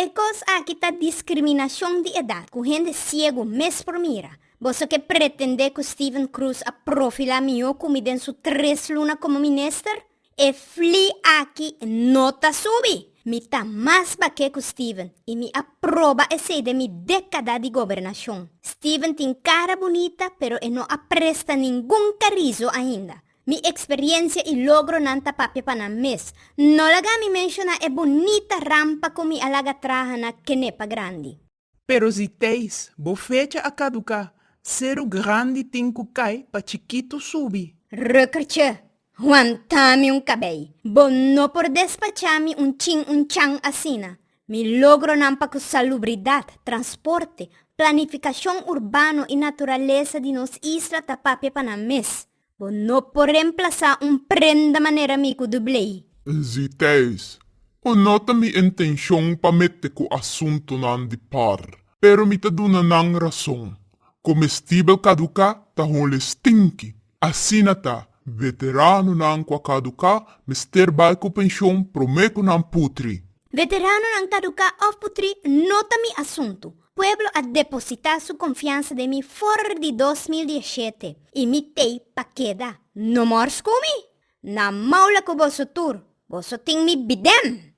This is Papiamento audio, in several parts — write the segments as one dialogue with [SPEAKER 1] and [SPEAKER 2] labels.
[SPEAKER 1] E kos aki ta diskriminashon di edat ku hende siegu mes por mira. Boso ke pretendé ku Steven Cruz a profilá mihó ku mi den su tres luna komo minister? E fli aki no ta subi! Mi ta mas bak'é ku Steven i mi a proba esei den mi dékada di gobernashon. Steven tin kara bunita pero e no a presta ningun karizo ainda. Mi experiencia y logronan ta papia pa nan mes. No laga mi menciona e bonita rampa cu mi a laga traha na Kenepa Grandi. Pero si teis bo fecha a caduca, ceru grandi tin cu cay pa chikito subi. Rukkertje, wanta mi un cabey. Bo no por despacha mi un chin un chan asina. Mi logronan pa cu salubridad, transporte, planificacion urbano y naturaleza di nos isla ta papia pa nan mes. Bo no por remplasá un prenda manera mi ku dublei. Nziteis, Bo no ta mi intenshon pa mete ku asuntunan di par, pero mi ta duna nan rason. Komestibel kaduká ta hole stinki. Asina ta, veteranonan ku a kaduká mester bai ku penshon promé ku nan putri. Veteranonan kaduká òf putri no ta mi asuntu. Pueblo a depositá su konfiansa den mi for di dos mil diesshete i mi t'ei pa keda. No mor skumi! Na maula ku boso tur, boso tin mi bidèm!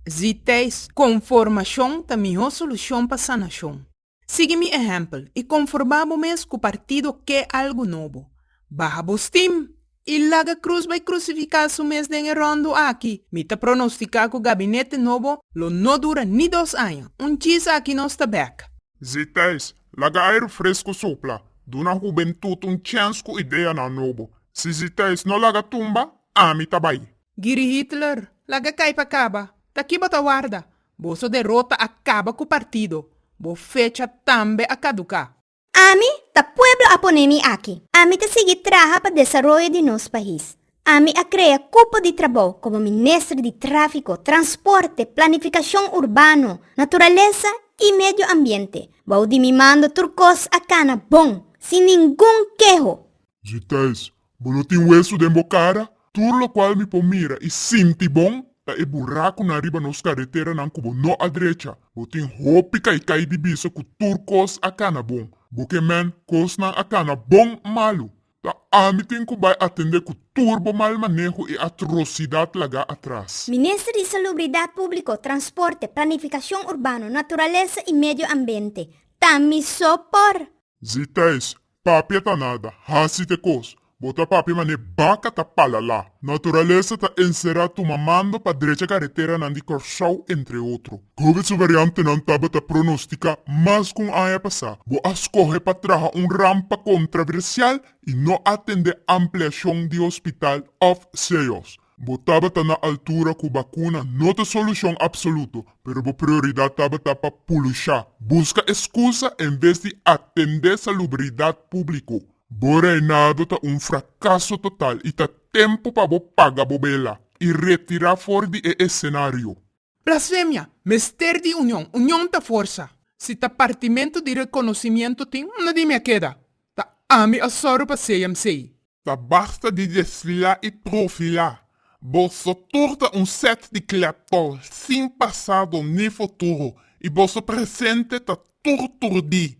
[SPEAKER 1] Zi Thijs, Konformashon ta mihó solushon pa sanashon. Sigui mi ehèmpel i konforbá bo mes ku partido ke algu nobo. Baha bo stim! I laga krus bai krusifiká su mes den e ròndu aki. Mi ta pronostiká ku gabinete nobo lo no dura ni dos aña. Un chis aki nos ta bèk. Zithijs, laga airu fresku sopla, duna hubentut un chèns ku ideanan nobo. Si Zithijs no laga tumba, ami ta bai. Giri Hitler, laga kai pa kaba. Ta ki bo ta warda? Boso derota a kaba ku partido. Bo fecha tambe a kaduká. Ami ta pueblo a pone mi aki. Ami ta sigui traha pa desaroyo di nos pais. Ami a krea kupo di trabou komo minister di Tráfiko, Transporte, Planifikashon Urbano, Naturalesa i Medio Ambiente. Bou di mi mando tur kos a kana bon, sin ningun keho. Djitays, Bo lo tin huesu den bo cara. Tur locual mi por mira y sinti bon ta e buracunan riba nos careteranan cu bo no a drecha. Bo tin hopi caicai di bisa cu tur cos a cana bon. Bo ke men cosnan a cana bon malu. Ta ami tin cu bay atende cu tur bo mal maneho y atrocidad laga atras. Minister di Salubridad Publico, Transporte, Planificacion Urbano, Naturalesa y Medio Ambente, Tami Sopor. Zi Thijs, Papia ta nada, hasi t'e kos. Bo ta papia man'e baka ta palalá. Naturalesa ta enserá tuma mando pa drecha kareteranan di Kòrsou entre otro. Kobe su variantenan tabata pronostika mas ku un aña pasá. Bo a skohe pa traha un rampa kontraversial i no atendé ampliashon di hospital òf CIOs. Bo tabata na altura cu bacuna no ta solucion absoluto, pero bo prioridad tabata pa pulushá, busca excusa en vez di atendé salubridad público. Bo reinado ta un fracaso total y ta tempo pa bo paga bo bela y retirá for di e escenario. Blasfemia, mester di union, union ta forsa. Si ta partimentu di rekonosimiento tin, unda di mi a keda? Ta ami a sòru pa seyam sey. Ta basta di desfilá i trofilá. Boso tur ta un sèt di klèptòl, sin pasado ni futuro, i boso presente ta tur tur di.